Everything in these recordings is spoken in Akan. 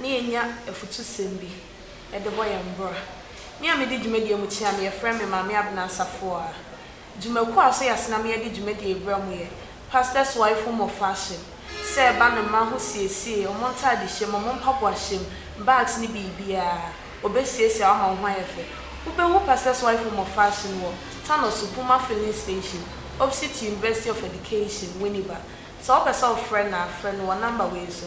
na yɛnya afutusɛm bi de bɔ yɛn bra. Me a medi dwumadie mu kyea no, yɛfrɛ me Maame Abena Asafuah. Dwumakuo a so yɛase na meyɛde dwumadie rebra mu yɛ Pastors Wife Home of Fashion, sɛ ɛba ne mma ho siesie, wɔn ntaadehyɛ mu, wɔn mpaboahyɛ mu, bags ne biribiara, wɔbɛsiesie ama wo ho ayɛ fɛ. Wobɛhu Pastors Wife Home of Fashion wɔ Tano so, Puma Filling Station, opposite University of Education, Winneba. Sɛ wopɛ sɛ wofrɛ no a, frɛ no wɔ number wei so.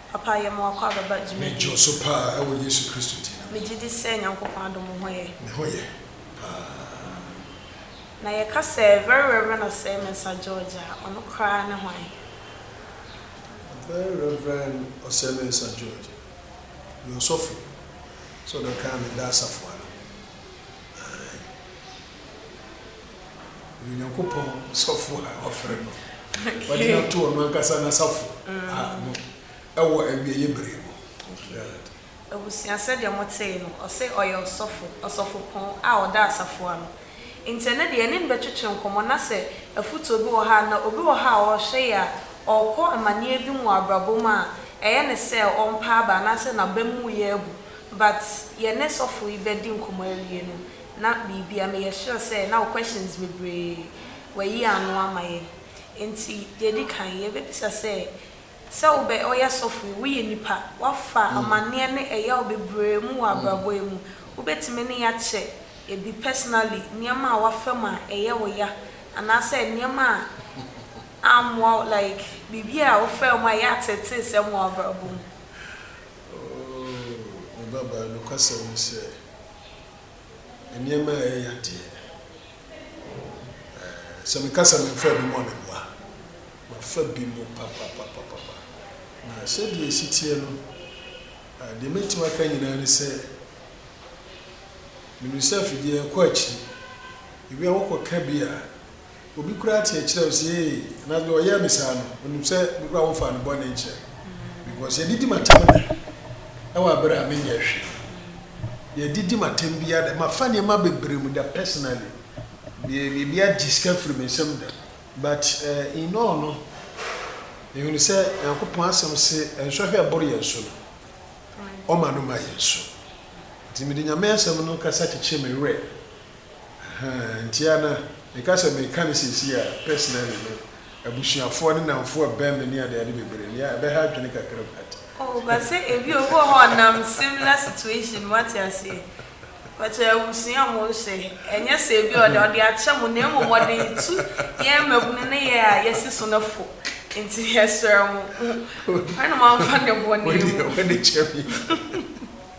Papa yɛ ma w'akɔ abɛba dwuma bi. Medwo so paa ɛwɔ Yesu Kristo din no mu. Megye di sɛ Nyankopɔn adom wo ho yɛ. Me ho yɛ paa. Na yɛ ka sɛ Very Reverend Osei Mensah George a, ɔno koraa ne hwan? Very Reverend Osei Mensah George yɛ ɔsɔfo, sɛ ɔbɛka a meda asafo ano. Ae. Ɔyɛ Onyankopɔn sɔfo a wafrɛ no. Wɔde no ato ɔno ankasa n'asafo ano wɔ awieeɛ bere mu. Abusua, sɛdeɛ motee no, ɔse ɔyɛ ɔsɔfo, ɔsɔfopɔn a ɔda asafo ano. Nti ɛnɛ deɛ yɛne no bɛtwetwe nkɔmmɔ na sɛ afutuo bi wɔ ha anaa obi wɔ ha a ɔrehwɛ yɛ a, ɔrekɔ amaneɛ bi mu wɔ abrabɔ mu a, ɛyɛ no sɛ ɔmpa aba anaasɛ n'abam mu yɛ abu. But yɛne sɔfo yi bɛdi nkɔmmɔ awie no, Na biribia meyɛ sure sɛ na wo questions bebree wayi ano ama yɛn nti deɛ ɛdi kan yɛbɛbisa sɛ sɛ wobɛ ɔyɛ sɔfo yi woyɛ nipa wafa amaneɛ ne ɛyaw bebree mu wɔ abrabɔ yi mu wobɛtumi ne yɛ akyɛ ɛbi personally nneɛma a wafa mu a ɛyɛ wo ya anaasɛ nneɛma a ammoa wo like biribi a wofaa mu a ɛyɛ atetee sɛm wɔ wabrabɔ mu. Oh me babaa nokwasɛm ne sɛ nneɛma a ɛyɛ ya deɛ, ɛɛ, sɛ meka sɛ memfaa bi mu a, meboa. Mafa bi mu papapapapa. Na sɛdeɛ ɛsi teɛ no, ɛɛ, deɛ mɛtumi aka nyinaa ne sɛ, menim sɛ afidie ɛkɔ akyiri. Ebi a wokɔka bi a. Obi koraa kyerekyerɛ wo sɛ ee anaasɛ deɛ ɔyɛɛ me saa no ɔnim sɛ me koraa womfaa no bɔne nkyerɛ me because yɛdidi m'atɛm nnɛ ɛwɔ abere a menyɛɛ hwee yɛdidi m'atɛm biara dɛ mafa nneɛma bebree mu da personally deɛ biribi agye sika firi me nsam da but uh, in all no mehunu sɛ Nyankopɔn asɛm se nsɔhwɛ ɛboro yɛn so no ɔma no ma yɛn so nti mede Nyame asɛm no kasa kyekyee me werɛ Ahaa ntia na meka sɛ meka no seesei a personally no abusuafoɔ ne namfoɔ ɛbɛn me ne ade ade bebree nea ɛbɛha adwene kakra but. Oh but sɛ ebi obi wɔ hɔ a ɔnam similar situation mu wate aseɛ but abusua mo nhyɛ ɛnyɛ sɛ ebi ɔde ɔde akyɛ mo na mmom ɔde retu yɛn mmabunu ne yɛn a yɛsi so no fo nti yɛsrɛ mo hwɛ na moamfa ne bɔne mu. Wo deɛ w'ani kyɛ me.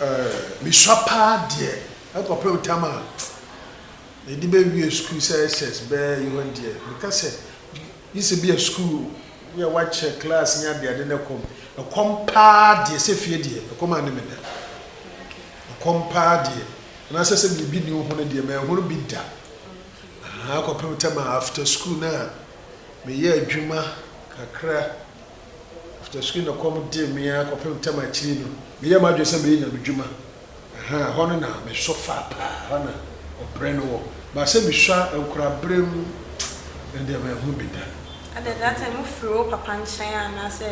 Ɛɛ, misua paa deɛ ɛkɔpem tam a mede bɛwie sukuu sɛ SS bɛɛ yi hɔ deɛ, meka sɛ gye sɛ bia sukuu ne a wɔakyɛ class ne adeade ne ɛkɔm. Ɛkɔm paa deɛ sɛ fie deɛ ɛkɔm anne me da. Ɛkɔm paa deɛ anaasɛ sɛ biribi nni wo ho no deɛ manhunu bi da. Ahaa, ɛkɔpem tam a after sukuu no a meyɛ adwuma kakra. After sukuu na kɔm dee me ara kɔpem tam akyiri no, me yɛɛ m'adwene sɛ mɛyɛ nyamedwuma. Ahaa, ɛhɔ no na me sɔ faa paa, ɛhɔ na ɔbrɛ no wɔ. But sɛ me sua nkoraberem, ɛno deɛ manhu bi da. At the that time, wo firi wo papa nkyɛn anaa sɛ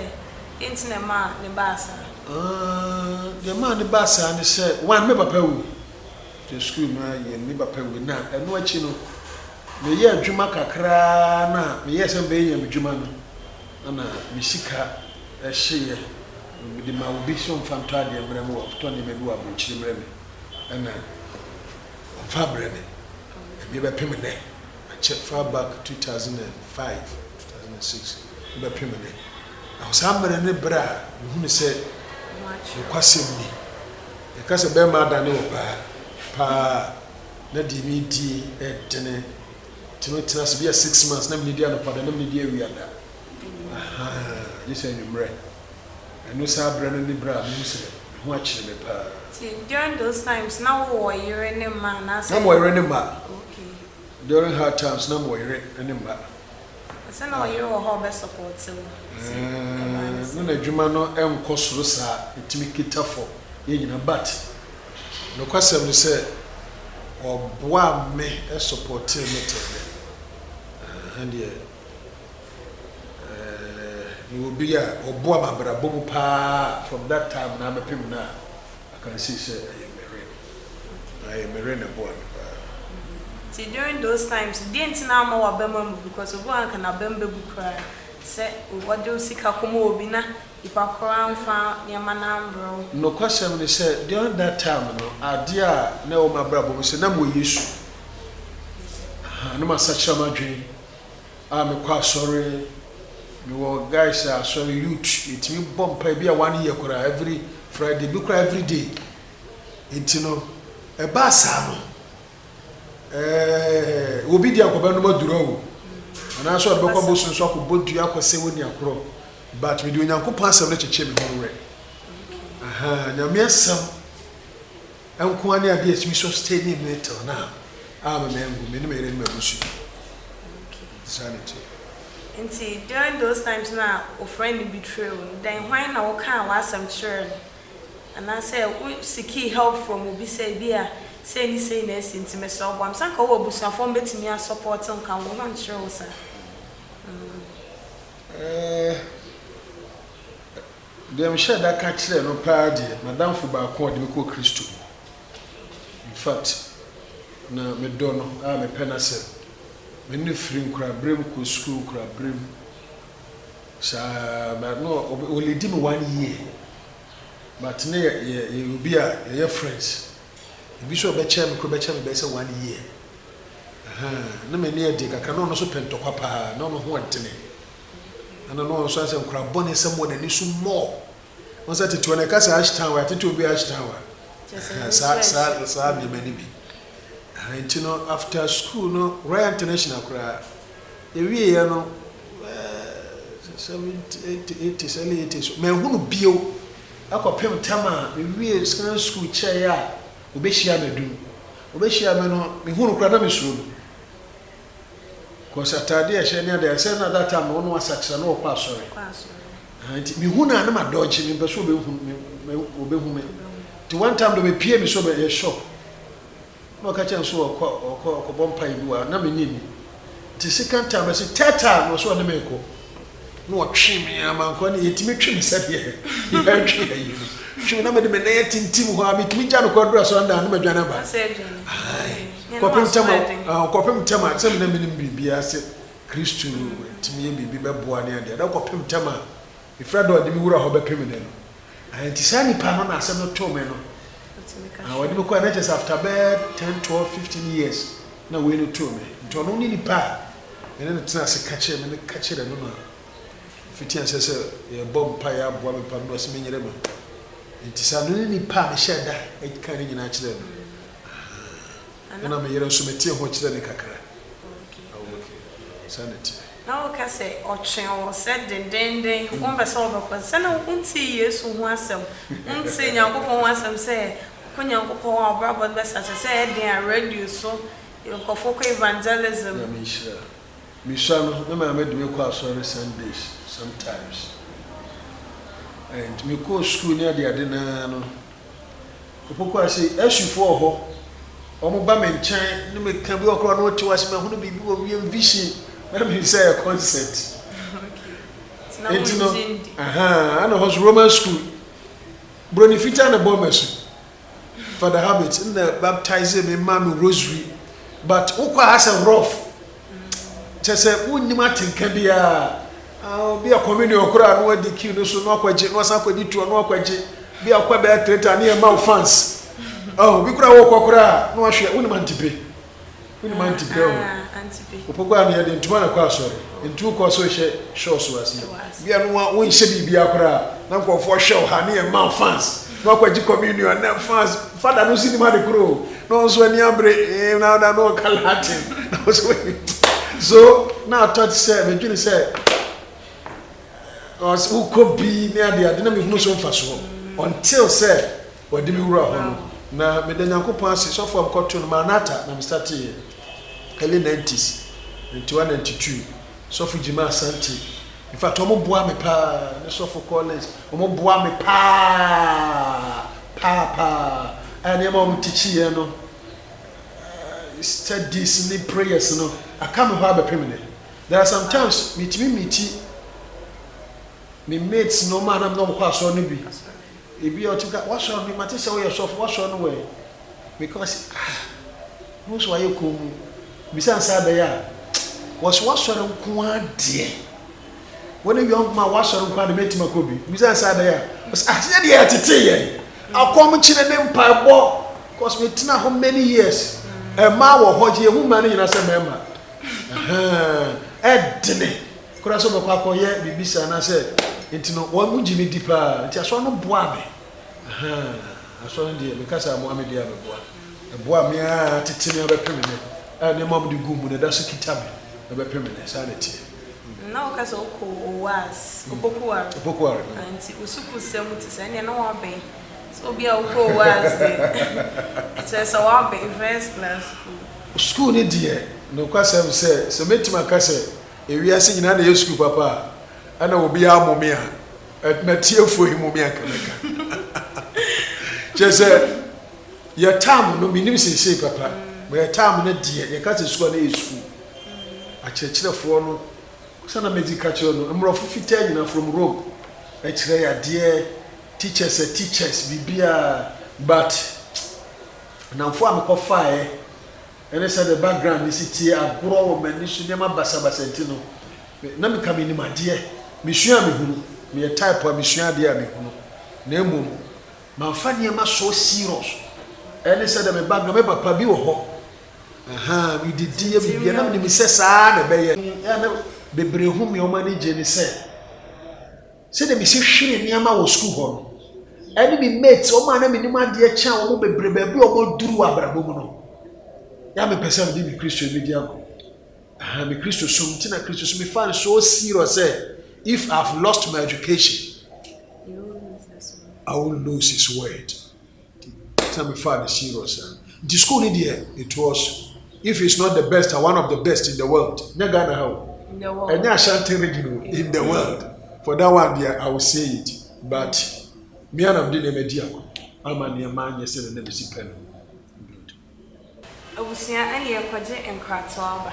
deɛ nti na ɛmaa ne baa saa? Aah, deɛ ɛmaa ne baa saa ne sɛ, one, me papa wui. After sukuu no ara yɛn, me papa wui na ɛno akyi no, me yɛɛ adwuma kakra ara no a, me yɛɛ sɛ mɛyɛ nyamedwuma no. Ana me sika hye yɛ mede ma obi sɛ ɔmfa ntɔ adeɛ mmerɛ me, watotɔ nneɛma bi wɔ abrokyire mmerɛ me ɛna ɔmfa abrɛ me ɛdeɛ bɛpem nnɛ akyɛ far back two thousand and five, two thousand and six ne bɛpem nnɛ na saa mmerɛ ne berɛ a me hunu sɛ nokwasɛm ni yɛka sɛ bɛɛma adane ɔbaa paa na deɛ me die ɛdene Tumi tena ase bia six months na mene di anɔpa da na mene di awia da ahaa gye sɛ anwummerɛ ɛno saa berɛ no ne berɛ a mehu sɛ me ho akyere me paa. Nti during those times na wo wɔ yere ne mma anaasɛ. Na me wɔ yere ne mma. Okay. During hard times na me wɔ yere ne mma. Sɛ na ɔyere wɔ hɔ a ɔbɛ support wo. Ɛɛɛ na n'adwuma no nkɔ soro saa ɛtumi kita fam yɛn nyinaa but. Nokwasɛm ne sɛ ɔboaa me sɔpɔtee me tɛnɛ. Ɛha deɛ eh, mewɔ obi a ɔboa me abrabɔ mu paa from that time na abɛpem nnɛ a, I can say sɛ ɛyɛ Meren. Ɛyɛ Meren na ɛboa me paa. Nti during those times no, deɛn nti na amma w'abam ammu? Because obi wɔ hɔ a anka n'abam bɛbu koraa sɛ ɔde wo sika kɔma obi na Nipa koro anfa nneɛma no ambrɛ wo. Nokwasɛm ne sɛ during that time no adeɛ a na ɛwɔ m'abrabɔ mu sɛ na mewɔ Yesu a na masakyera m'adwen a mekɔ asɔre, mewɔ guys a asɔre youth yɛtumi bɔ mpaeɛ bi a one year koraa every Friday bi koraa everyday nti no ɛbaa saa no Ɛɛ, obi deɛ anka ɔbɛnom aduro o, anaasɛ ɔde bɛkɔ abosom so akɔbɔ dua akɔsɛ wɔ nia korɔ, but mede Onyankopɔn asɛm no kyekyee me ho werɛ. Aha, Nyame asɛm nko ara ne adeɛ a ɛtumi sustaining me till now, a me mangu, me ne me yere ne m'abusua. Saa na ɛteɛ. Nti during those times no a wo friend no betrayed wo no, dɛn hwan na wokaa w'asɛm kyerɛɛ no? Anaasɛ wo seekii help from obi sɛ ebia sei ne sei na asi nti mesrɛ wo boa me. Sɛ anka wowɔ abusuafoɔ a wɔbɛtumi a support wo nka wo ho nkyerɛ wo saa. Deɛ mehyɛɛ da ka kyerɛɛ no paa deɛ, m'adamfo baako a ɔde me kɔɔ Kristo mu. In fact, na medɔ no a mepɛ n'asɛm. Me ne no firi nkoraberem kɔɔ sukuu nkoraberem. Saa na no ɔbɛ o lady me one year but ne yɛ yɛ yɛyɛ obi a yɛyɛ friends ebi so ɔbɛkyɛɛ me koro bɛkyɛ me bɛyɛ sɛ one year ahaa ne me ne ɛdeɛ kakra na ɔno so pɛ ntɔkwa paa na ɔno ho ɔntene ɛna no ɔnso ayɛ sɛ nkora bɔne sɛ mo na ne so more wɔn sɛ tete wɔn ɛka sɛ ash town wa tete obi ash town wa ahaa saa saa saa nneɛma ne bi ahaa nti no after school no Royal International koraa. Ɛwieɛ no bɛyɛ seventy eighty eighties early eighties so manhu no bio kɔpem tam a mewiee Secondary School kyerɛeɛ a ɔbɛhyiaa me adu no. Ɔbɛhyiaa me no mehu no koraa na mesuro no cos ataadeɛ a ɛhyɛ ne adeɛ sɛ na that time no ɔno asakyera na ɔkɔ asɔre ahaa nti mehu no a na ma dodge mempɛ sɛ ɔbɛhu me nti one time deɛ ɔbɛpiee me sɛ ɔbɛyɛ shop Ɛna ɔka kyerɛɛ me sɛ ɔɔkɔ a ɔɔkɔ akɔbɔ mpaeɛ bi wɔ ha, na mennye nni. Nti sekan taa me se Tɛɛtaa! Na ɔse ɔne me rekɔ. Na ɔtwee me ara mankɔ, ɛna yɛtumi twe me sɛdeɛ yɛretwe ayi no. Twe me na mede me nan atintim hɔ ara, metumi gya no kɔ aduru asɔre dan a na madwane aba. Ae, kɔpem ntɛm a, ah, kɔpem ntɛm a, sɛ me na menim biribiara, sɛ Kristo tumi yɛ biribi bɛboa ne adeɛ, na kɔpem ntɛm a, Mefrɛ dɛ ɔde me wura hɔ bɛpem dɛ no, ah, ntsi saa nyimpa no na asɛm no too me no, ah, ɔde me kɔe, na kyerɛ sɛ after bɛyɛ ten, twelve, fifteen years na wei no too me, ntsi ɔno nye nyimpa a yɛne no tsenaa ase ka kyerɛɛ me no ka kyerɛɛ no na mfitsi ansa sɛ yɛbɔ mpae aboa me paa no na ɔse menyere no, ntsi saa no nye nyimpa a mehyɛɛ da kãa ne nyina kyerɛɛ no, ah. Ɛna me yere nso metee ho kyerɛɛ no kakra. Oh okay. Okay. Saa na ɛteɛ. Na woka sɛ ɔtwee wo sɛ dendennden wompɛ sɛ wobɛkɔ. Sɛ na wontee Yesu ho asɛm, wontee Nyankopɔn ho asɛm sɛ kɔ Nyankopɔn a wobrabɔ no bɛsa. Te sɛ ɛyɛ den a radio so nkurɔfoɔ kɔ evangelism. Nyame nhyira. Mesua no, me maame de me kɔ asɔre Sundays sometimes and mekɔɔ sukuu ne adeade no ara no, Opokuaa se, Asufoɔ wɔ hɔ, wɔba me nkyɛn ne me ka bi wɔ kora na wɔte wo ase, mahunu biribi wɔ wiem vision, na menim sɛ ɛyɛ concert. Enti no, ahaa, na hɔ so Roman school, broni fitaa na ɛbɔɔ m'asu. Father Habit na baptizee me, maa me rosary, but wokɔ a asɛ rough, kyɛ sɛ wonnim atenka biara. Obi a communion koraa no adi queue no so na wakɔgye, na wasan akɔdi tour na wakɔgye. Bi a ɔkɔ bɛyɛ theatre ne yɛ ma wo fans. Oh, obi koraa wɔkɔ koraa na wahwɛ, wonim antipe. Wonim antipe o. Opo koraa no yɛde ntoma na kɔ asɔre. Ntu kɔ so hyɛ show so aseɛ. Bi a no wonhyɛ biribiara koraa na nkurɔfoɔ hwɛ wo ha ne yɛ ma wo fans. Na ɔkɔgye communion na fas fada no nso nim ade koro o na ɔno nso ani abere ee na ɔda na ɔka latin na ɔsɛ wɔyi so na atɔ te sɛ medwene sɛ ɔsɛ wokɔ bi ne ade ade na mehunu so mfasoɔ until sɛ wɔde me wura hɔ no na meda nyankopɔn ase sɔfo a mekɔto no maranata na mestarteeɛ early 90s 91 92 Sɔfo Gyimah Asante, in fact ɔmo boa me paa, ne Sɔfo Collins, ɔmo boa me paa paa paa a nneɛma a ɔmo teach yɛn no, studies ne prayers no, aka me hɔ abɛpem nnɛ. There are some times metumi meeti me mates no, ɔmo a na me ne ɔmo kɔ asɔre no bi, ebi a ɔtumi ka, w'asɔre no, mate sɛ woyɛ sɔfo, w'asɔre no wɔ he? Meka ɔse ah. Wo nso wayɛ komm bisa no saa ɛbɛyɛ a wɔse w'asɔre nko ara deɛ wo ne young man w'asɔre nko ara deɛ mɛntumi akɔ bi bisa no saa ɛbɛyɛ a wɔse ah sɛ deɛ ɛtetee yɛn akɔm kyene ne mpaebɔ cause metena hɔ many years ɛmaa wɔ hɔ yɛhu mmaa no nyinaa sɛ mmarima ɛdene koraa sɛ wɔbɛkɔ akɔyɛ biribi saa anaasɛ nti no wɔn gye me di paa nti asɔre no boaa me Ahaa asɔre deɛ me kasa a moa me deɛ a me boa ɛboa me aa tete me abɛpem nnɛ a nneɛma a mode guu mu no ɛda so kita me ɛbɛpem nnɛ saa na ɛteɛ. Na wo ka sɛ wo kɔ Oas, Opoku Ware, Opoku Ware, mm. nti wo sukuu sɛm nti saa ɛnneɛ na w'abɛn sɛ obi a wo kɔ Oas deɛ ɛkyerɛ sɛ w'abɛn first class sukuu. Sukuu no deɛ nokwa sɛm sɛ sɛ mɛtumi aka sɛ ɛwiase nyinaa na ɛyɛ sukuu papa a ɛna obiara mo me a. Ɛt na tiefoɔ yi mo meɛnka mɛka kyerɛ sɛ yɛ tam no menim seesei papa ma yɛ tam no deɛ yɛka sɛ sukuu a na yɛ sukuu akyerɛkyerɛfoɔ no sɛ na medzi ka kyerɛ no mmorɔfo fitaa nyinaa from Rome ɛkyerɛ yɛ adeɛ teachers ɛ teachers biribiaa but namfoɔ a mekɔfaeɛ Ɛne sɛ me background ne si tie agorɔ wɔ m'ani so nneɛma basabasa nti no, me na meka menim adeɛ. Mesua a mehunu. Meyɛ type a mesua adeɛ a mehunu. Na mmom, mamfa nneɛma so serious. Ɛne sɛ deɛ me background, me papa bi wɔ hɔ, ahaa, me didiɛ, biribiara, na menim sɛ saa ara na ɛbɛyɛ. Bebree hu me, wɔn ani gye ne sɛ. sɛdeɛ mesi hwere nneɛma wɔ sukuu hɔ no, ɛne me mates, wɔn a na menim adeɛ kyɛn wɔn bebree baabi a wɔaduru wɔ abrabɔ mu no, yɛ a mepɛ sɛ mede me Kristo bɛdi ago. Aha, me Kristo som nti na Kristo som mefa no so serious sɛ if I have lost my education, I will lose his word. Ntsi me faa no serious ara ntsi school no deɛ me toɔ so if it's not the best a one of the best in the world nyɛ Ghana ha o ɛnyɛ Ashanti region o in the world for that one deɛ I will say it but me ara na mede nneɛma di ako ama nneɛma anyɛ sɛdeɛ na mesi pɛ no. Abusua ɛne yɛkɔgye nkratoɔ aba.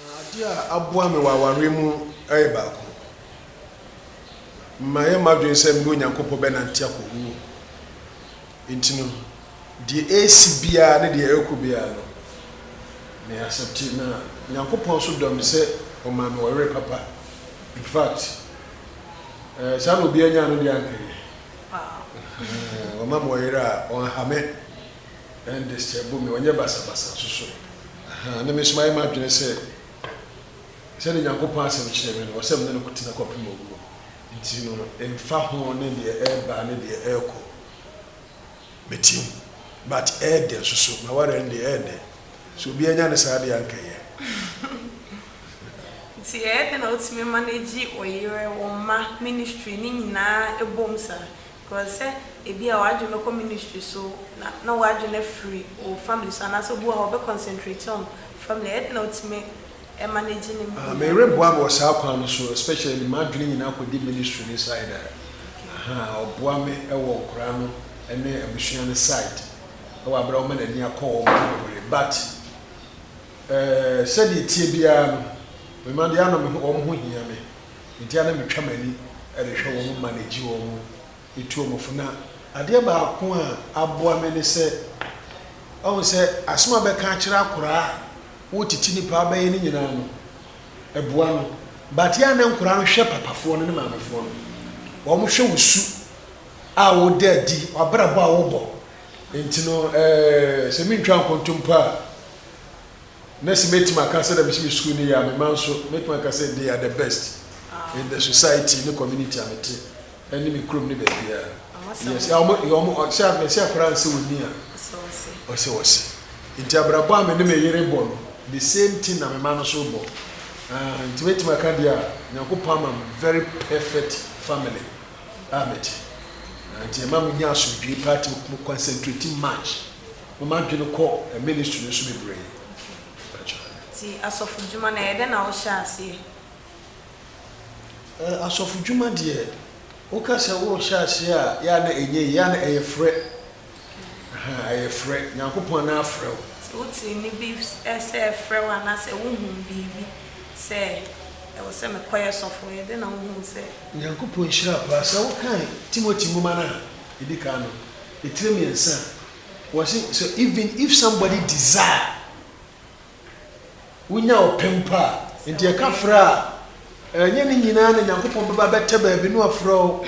Na ade a aboa me wɔ awareɛ mu yɛ baako. Mayɛ m'adwene sɛ me ne Onyankopɔn bɛnante akɔ wuo mu. Enti no, deɛ ɛresi biara ne deɛ ɛrekɔ biara no, me accepte. Na Onyankopɔn nso dɔ me sɛ ɔmaa me ɔyere papa. In fact, eh, saa na obiara nyaa no deɛ a anka ɛyɛ. Wama me ɔyere a ɔnha me. Ɛnde sɛ ɛbɔ me, ɔnyɛ basabasa nso so. Ahaa, na me nso mayɛ m'adwene sɛ sɛdeɛ Onyankopɔn Asɛm kyerɛ me no, ɔsɛ me ne no tena kɔpem owuo. Enti no, ɛmfa ho ne deɛ ɛreba ne deɛ ɛrekɔ, mɛtie mu. But ɛyɛ dɛ nso so, m'awareɛ no deɛ ɛyɛ dɛ. Sɛ obiara nya ne saa deɛ a anka ɛyɛ. Nti ɛyɛ dɛn na wotumi manage wo yere, wo mma, ministry, ne nyinaa bom saa? Because sɛ ebia w'adwene bɛkɔ ministry so na na w'adwene afiri wo family so anaasɛ obi wɔ hɔ a ɔbɛ concentrate on family a ɛyɛ den na wotumi manage ne mmienu. Ah, mereboa me wɔ saa kwan no so, especially de m'adwene nyinaa kɔdi ministry no side a, aha, ɔboa me wɔ nkwadaa no ne abusua no side wɔ aberɛ a ɔma n'ani akɔ wɔn ho bebree. But eh, sɛdeɛ ɛteɛ biara no, me mma deɛ, ano me ho, wɔn ho hia me. Enti a na metwa m'ani de hwɛ wɔn ma na gye wɔn de tu wɔn fo. Na adeɛ baako a aboa me ne sɛ, wahu sɛ asɛm a bɛka akyerɛ akoraa a wotiti ne paa bɛyɛ no nyinaa no, ɛboa no. But yɛ a na nkoraa no hwɛ papafoɔ no ne maamefoɔ no. Wɔn hwɛ wo su a woda adi, w'abrabɔ a wobɔ. Enti no ɛɛ sɛ mentwaa nkontompo a, Mercy, Mɛtumi aka sɛ dɛ misi me skuul no yie a me mma nso mɛtumi aka sɛ they are the best in the society ne community a mete ɛne me kurom ne baabiara. Yes, yeah, wɔn, yeah, wɔn, ɔ, sɛ a, mɛsi akora nsɛ ɔni a, ɔsɛ ɔse. Nti abrabɔ a me ne me yere bɔ no, the same thing na me mma no nso bɔ. Ah, nti mɛtumi aka deɛ a, Nyankopɔn ama me very perfect family a mete. Ah, nti ɛma menya asomdwoe paa nti me concentrate much. Ma m'adwene kɔ ministry no so bebree mpakyɛw. Nti asɔfo dwuma no ɛyɛ dɛn na wohyɛ aseɛ? Eh, asɔfo dwuma deɛ, woka sɛ worehyɛ aseɛ a, yɛ a na ɛnyɛ yie, yɛ a na ɛyɛ frɛ, aha, ɛyɛ frɛ, Nyankopɔn na afrɛ wo. Nti wotee nne bi sɛ ɛfrɛ wo anaasɛ wohuu biribi sɛ ɛwɔ sɛ mekɔyɛ sɔfo, ɛyɛ dɛn na wohuu sɛ. Nyankopɔn nhyira paa, sɛ wokan Timothy nwoma no a ɛdi kan no, ɛtire mmiɛnsa a, Wɔse sɛ even if somebody desire, wonya ɔpɛ mpo a, nti yɛka frɛ a, ɛnyɛ ne nyinaa na Nyankopɔn bɛba bɛtɛ baabi na wafrɛ wo,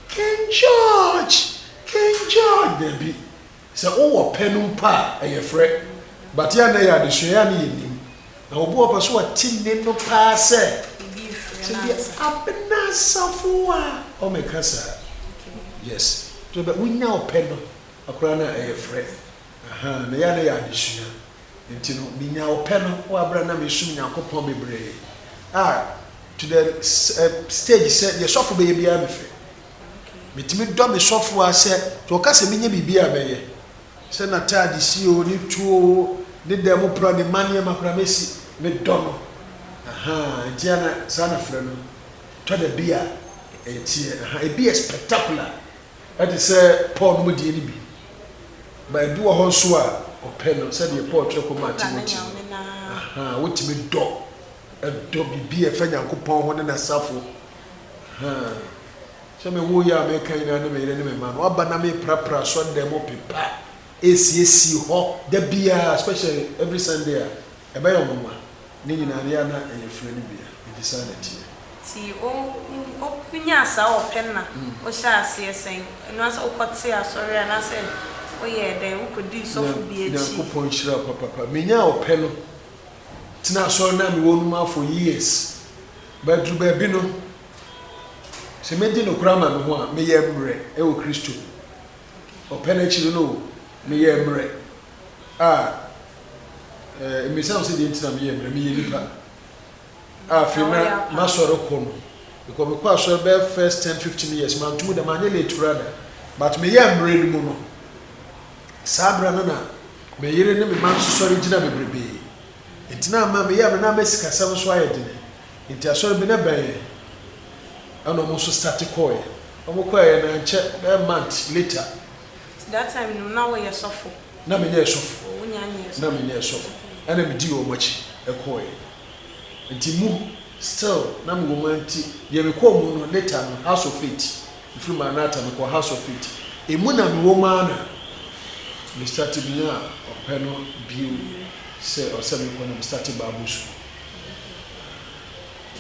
King George! King George! Daabi. Sɛ wowɔ pɛ no mpo a, ɛyɛ frɛ. But yɛ a na ɛyɛ adesua, yɛ a na yɛnnim. Na obi wɔ hɔ ɔpɛ sɛ ɔte nne no paa sɛ, sɛ bi a, Abena Safoa! Ɔmeka saa. Yes. Wonya ɔpɛ no. Koraa na ɛyɛ frɛ ahaa na ɛyɛ a na ɛyɛ adesua nti no me nyaa ɔpɛ no wɔ aberɛ a na me som Nyankopɔn bebree a to the stage sɛ deɛ sɔfo bɛyɛ biara me fɛ me tumi dɔ me sɔfo a sɛ to ɔka sɛ me nyɛ biribi a mɛ yɛ sɛ na taade si o ne tuo o ne dan mu pra ne ma nneɛma koraa mɛ si me dɔ no ahaa nti ana saa na frɛ no tɔ da bi a ɛteɛ ahaa ebi yɛ spectacular Ɛte sɛ Paul nomdeɛ no bi, ma ebi wɔ hɔ nso a ɔpɛ no, sɛdeɛ Paul twerɛ kɔmaa Timoteo no. Aha, wotumi dɔ, dɔ biribi a ɛfa Nyankopɔn ho ne N'asafo. Aha, sɛ mewoo yi a meka nyinaa ne me yere ne me mma no, aba na meprapra asɔredan mu pepa, ɛresiesie hɔ da biara, especially every Sunday a. Ɛbɛyɛ wo nwonwa. Ne nyinaa no, yɛ a na ɛyɛ frɛ no bia, enti saa na ɛteɛ. Nti wo wo nyaa saa ɔpɛ no na wo hyɛɛ aseɛ sɛn? Ɛno ara sɛ wo kɔ tee asɔre anaa sɛ wo yɛɛ dɛn? Wo kɔ dii sɔfo bi akyi? Nyankopɔn nhyira wo papapa. Me nyaa ɔpɛ no tenaa asɔre no a me wɔ no mu ara for years, but aduru baabi no, sɛ mɛ di nokorɛ ama me ho a, me yɛ mmerɛ ɛwɔ Kristo mu. Ɔpɛ no akyiri no o, me yɛɛ mmerɛ. a, eh, mmisa wo sɛ deɛ nti na meyɛ mmerɛ, meyɛ nipa. A afei na masɔre kɔ no, because mekɔ asɔre bɛyɛ first ten fifteen years, mantum da, manyɛ late koraa da, but meyɛ mmerɛ no mu no, saa berɛ no na me yere ne me ma nso sɔre gyina bebrebee, nti na ama meyɛ mmerɛ na ama sikasɛm nso ayɛ dene, nti asɔre bi na bɛn yɛn, ɛna wɔn nso starte kɔɔɛ, wɔn kɔɔɛ no ankyɛ bɛyɛ month later. Nti that time no na wo yɛ sɔfo? Na me yɛ sɔfo. Oh wo nyaa nyɛ sɔfo. Na me nyɛ sɔfo. Okay. Ɛna me dii wɔn akyi kɔɔɛ. Nti mu still na me wɔ mu nti deɛ me kɔɔ mu no later no house of faith me firi maranatha me kɔɔ house of faith ɛmu na me wɔ mu ara na me starte me nyaa ɔpɛ no bio sɛ ɔsɛ me kɔ na me starte bible school.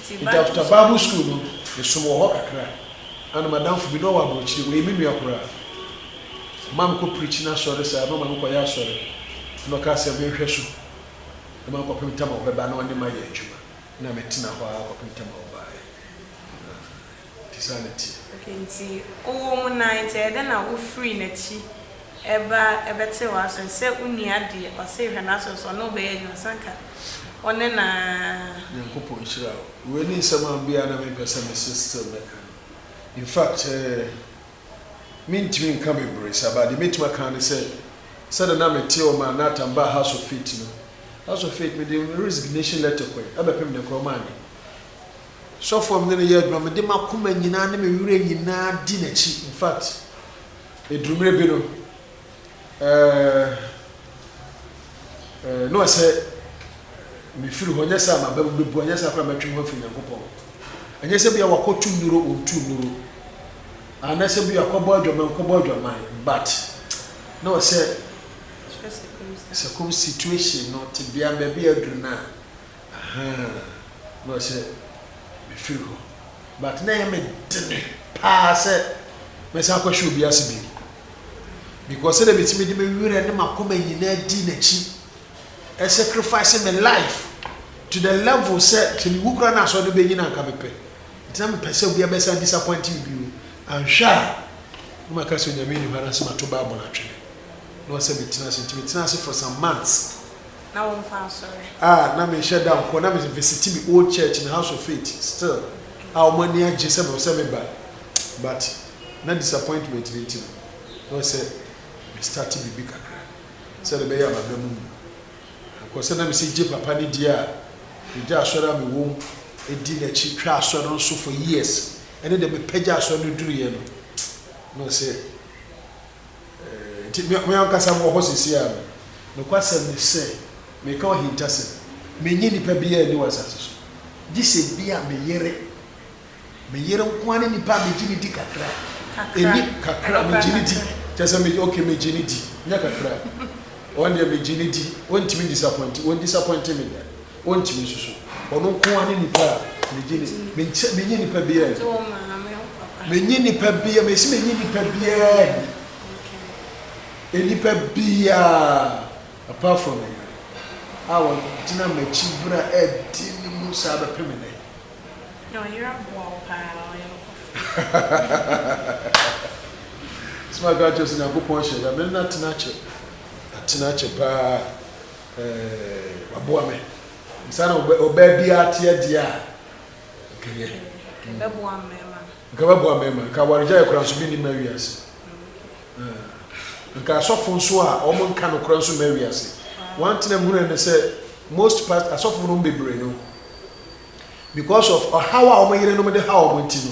Ntsi after Bible school no, mesoom wɔ hɔ kakra. Nna no m'adamfo bi, nna ɔwɔ aborɔkyir, ɔyɛ me nua koraa. Ɔmaa mokɔ preach n'asɔr saa, na ɔma mokɔyɛ asɔr. Nna ɔkaa sɛ menhwɛ so mma kɔpem tam a ɔbɛba na ɔnye me ayɛ edwuma. Nna metsena hɔ ara kɔpem tam a ɔbae. bisa ne ti. Ok nti wowɔ mu nan nti ɛyɛ dɛn na wofiri nakyi ɛba ɛbɛte w'aso sɛ wonua deɛ ɔse hwɛ n'aso so ɔne wo bɛyɛ adwuma sɛ anka ɔne na. Nyankopɔn nhyira wo. Wei ne nsɛm a bi a na me pɛ sɛ me se still mɛka no. In fact eh me ntumi nka bebree saa but deɛ mɛtumi aka ara ne sɛ sɛdeɛ na me te ɔma Nathan baa House of Faith no, House of Faith me de me resignation letter kɔɛ, ɛbɛpem deɛ koraa ɔma anyɛ. Sɔfo a me ne no yɛ adwuma, mede m'akoma nyinaa ne me werɛ nyinaa di n'akyi. In fact, eduru mmere bi no, eh, na ɔsɛ mefiri hɔ, ɛnyɛ sɛ a m'aba mu bebu, ɛnyɛ sɛ a koraa mɛtwe me ho afiri Nyankopɔn. Ɛnyɛ sɛ bia wakɔto nnuro, ɔntu nnuro, anaasɛ bia kɔbɔ adwaman, nkɔbɔ adwaman, but na ɔsɛ circum situation no, tebea no, baabi a aduru no a, Ahaa na ɔsɛ mefiri hɔ but na ɛyɛ me dene paa sɛ mɛsan akɔhyɛ obi ase bio because sɛdeɛ metumi de me werɛ ne m'akoma nyinaa dii n'akyi ɛ sacrifice me life to the level sɛ sɛ mewu koraa na asɔre no bɛnyin a anka mepɛ nti na mepɛ sɛ obiara bɛsan disappoint me bio anhwɛ a na maka sɛ onyame nni hɔ anaasɛ mato bible atwene na ɔsɛ metena ase nti metenaa ase for some months. na wo nkwa nsɔre. Ah na me nhyɛ da nkɔ na me visiti me old church me house of faith still a ɔmo ani agye sɛ me ɔsɛ me ba but na disappointment no nti no na ɔsɛ me start biribi kakra sɛdeɛ ɛbɛyɛ a maba mu mu ankɔ sɛ na me sɛ gye papa no die a me gya asɔre a me wɔm di na akyi twa asɔre no nso for years ɛne deɛ me pɛ gya asɔre no duruiɛ no na ɔsɛ Enti me, me ankasa mewɔ hɔ seesei ara no. Nokwasɛm ne sɛ, meka ahintasɛm. Minnye nipa biara nni wɔ asase so, gye sɛ ebia me yere. Me yere nko ara ne nipa a migye no di kakra. Enni, kakra, migye no di. Kyerɛ sɛ migye, okay, migye no di. Nyɛ kakra. Wɔn deɛ, migye no di. Wɔntumi 'disappoint', wɔn 'disappoint' me da. Wɔntumi nsusu. Ɔno nko ara ne nipa a megye ne me nkyɛ menye nipa biara nni. Menye nipa biara mesi menye nipa biara nni. Nipa biara apart from me yere a ɔgyina m'akyi bere a ɛde ne mu saa bɛpem nnɛ. Na ɔyere aboa wo paa ɔyɛ ɔkɔfo. Sɛ maka akyerɛ sɛ Nyankopɔn hyɛ da me ne no atena akyɛ atena akyɛ paa. Eeh waboa me. Nsa na ɔbaa biara teɛ deɛ a nka yɛ. Ɛbɛboa mmarima. Nka ɛbɛboa mmarima. Nka awaregyaeɛ koraa nso bi ni ma wiase. Nka asɔfo nso a wɔn nka no koraa nso ma wiase. One thing I'm hearing is that most past asɔfo no bebree no because of ɔhaw a wɔn yerenom de haw wɔn nti no.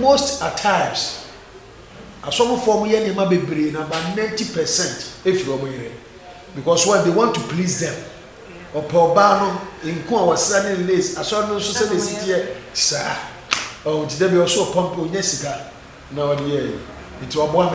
Most atimes asɔfofoɔ wɔn yɛ nneɛma bebree na about ninety percent efiri wɔn yere because why they want to please them ɔpɛ ɔbaa no nko a ɔsra ne lace asɔre no nso sɛ na esi teɛ saa ɔn ti dɛ bi ɔso ɔpampa onya sika na ɔde yɛ yi nti waboa me.